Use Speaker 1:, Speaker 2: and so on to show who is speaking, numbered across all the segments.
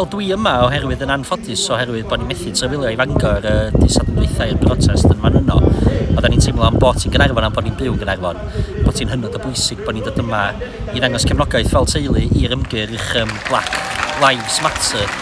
Speaker 1: Wel, dwi yma oherwydd yn anffodus oherwydd bod ni'n methu trefilio i Fangor y uh, disadwn dweitha i'r protest yn fan yno. Oedden ni'n teimlo am bod ti'n Gynarfon am bod ni'n byw yn Gynarfon, bod ti'n hynod o bwysig bod ni'n dod yma i ddangos cefnogaeth fel teulu i'r ymgyrch um, Black Lives Matter.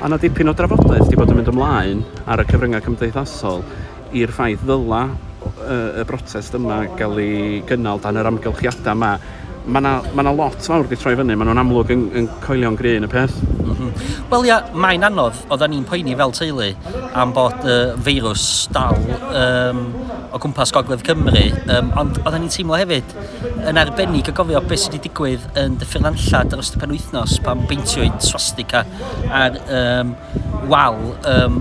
Speaker 2: Mae 'na dipyn o
Speaker 3: drafodaeth 'di bod yn mynd ymlaen ar y cyfryngau cymdeithasol i'r ffaith ddyla y brotest yma gael ei gynnal dan yr amgylchiadau yma. Mae 'na ma' 'na lot fawr 'di troi fyny, maen nhw'n amlwg yn yn coelio'n gryn y peth. Mm -hmm. Wel ia,
Speaker 1: mae'n anodd, oedden ni'n poeni fel teulu am bod y feirws dal um, o gwmpas Gogledd Cymru, um, ond oedden ni'n teimlo hefyd Yn arbennig o gofio beth sydd wedi digwydd yn Dyffryn Nantlle dros y penwythnos pan beintiwyd swastika ar um, wal um,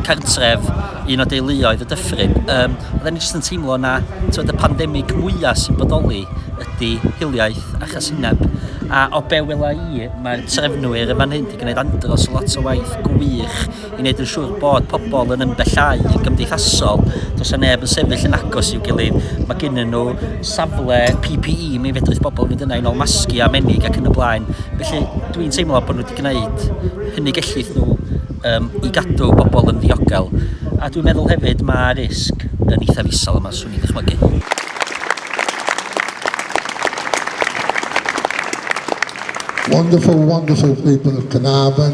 Speaker 1: cartref un o deuluoedd y dyffryn. Um, oedden ni jyst yn teimlo na tywed, y pandemig mwyaf sy'n bodoli ydy hiliaeth a chasineb. A o be wela i, mae'r trefnwyr yn fan hyn wedi gwneud andros o lot o waith gwych i wneud yn siŵr bod pobl yn ymbellhau yn gymdeithasol. Does yna neb yn sefyll yn agos i'w gilydd. Mae gennym nhw safle PPE, mi fedrith pobl fynd yna i nol masgu a menig ac yn y blaen. Felly dwi'n teimlo bod nhw wedi gwneud hynny gellith nhw um, i gadw pobl yn ddiogel. A dwi'n meddwl hefyd mae risg yn eithaf isel yma, swn i'n dychmygu.
Speaker 4: Wonderful, wonderful people of Carnarvon.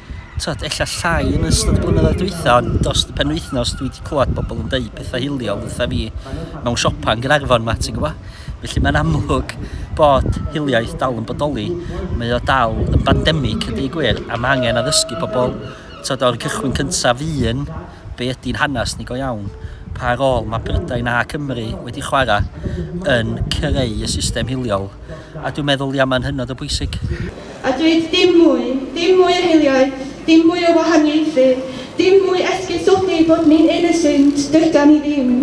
Speaker 1: tibod, ella llai yn ystod y blynyddoedd dwytha, ond dros y penwythnos dwi wedi clywed pobl yn dweud pethau hiliol wrtha fi mewn siopa yn Gaernarfon ma, ti'n gwybod? Felly mae'n amlwg bod hiliaeth dal yn bodoli, mae o dal yn bandemig ydy gwir, a mae angen addysgu pobl, tywed, o'r cychwyn cyntaf un, be ydy'n hanes ni go iawn, pa rôl mae Brydain a Cymru wedi chwarae yn creu y system hiliol, a dwi'n meddwl, ia, mae'n hynod o bwysig. A dweud
Speaker 5: dim mwy, dim mwy o hiliaeth, dim mwy o wahaniaethu, dim mwy esgusodi bod ni'n un y Sindh, dydan ni ddim.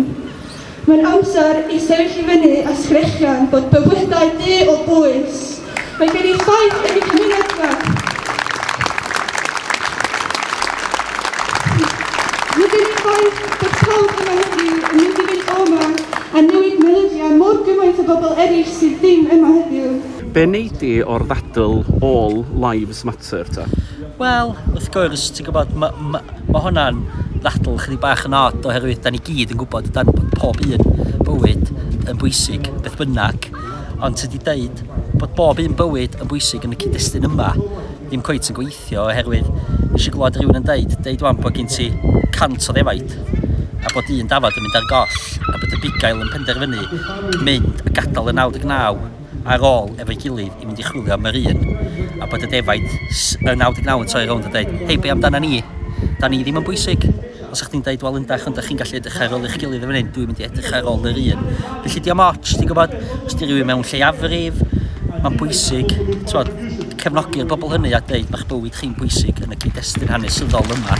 Speaker 5: Mae'n amser i sefyll i fyny a sgrechian bod bywydau du o bwys. Mae gen i ffaith yn y cymuned yma. Mae gen i ffaith bod pawb yma heddiw yn mynd i fynd o yma a newid meddyliau mor gymaint o bobl eraill sydd ddim yma heddiw. Be wnei di
Speaker 3: o'r ddadl All Lives Matter ta? Wel, wrth
Speaker 1: gwrs, ti'n gwybod, mae ma, ma hwnna'n ddadl chydig bach yn od oherwydd da ni gyd yn gwybod dan bod pob un bywyd yn bwysig beth bynnag. Ond tydi deud bod bob un bywyd yn bwysig yn y cyd-destun yma ddim cweit yn gweithio oherwydd nes i glwad rhywun yn deud, deud wan bod gen ti cant o ddefaid a bod un dafod yn mynd ar goll a bod y bugail yn penderfynu mynd a gadael y 99 ar ôl efo'i gilydd i fynd i chwilio am yr un, a bod y defaid yn 99 yn torri rownd a deud, hei, be amdana ni? Da ni ddim yn bwysig. Os o'ch chdi'n deud, wel yndach, ond dach chi'n gallu edrych ar ôl eich gilydd yn fan hyn, dwi'n mynd i edrych ar ôl yr un. Felly dio'm ots, ti'n gwybod, os di rhywun mewn lleiafrif, mae'n bwysig, t'mod, cefnogi'r bobl hynny a deud mae'ch bywyd chi'n bwysig yn y cyd-destun hanesyddol yma.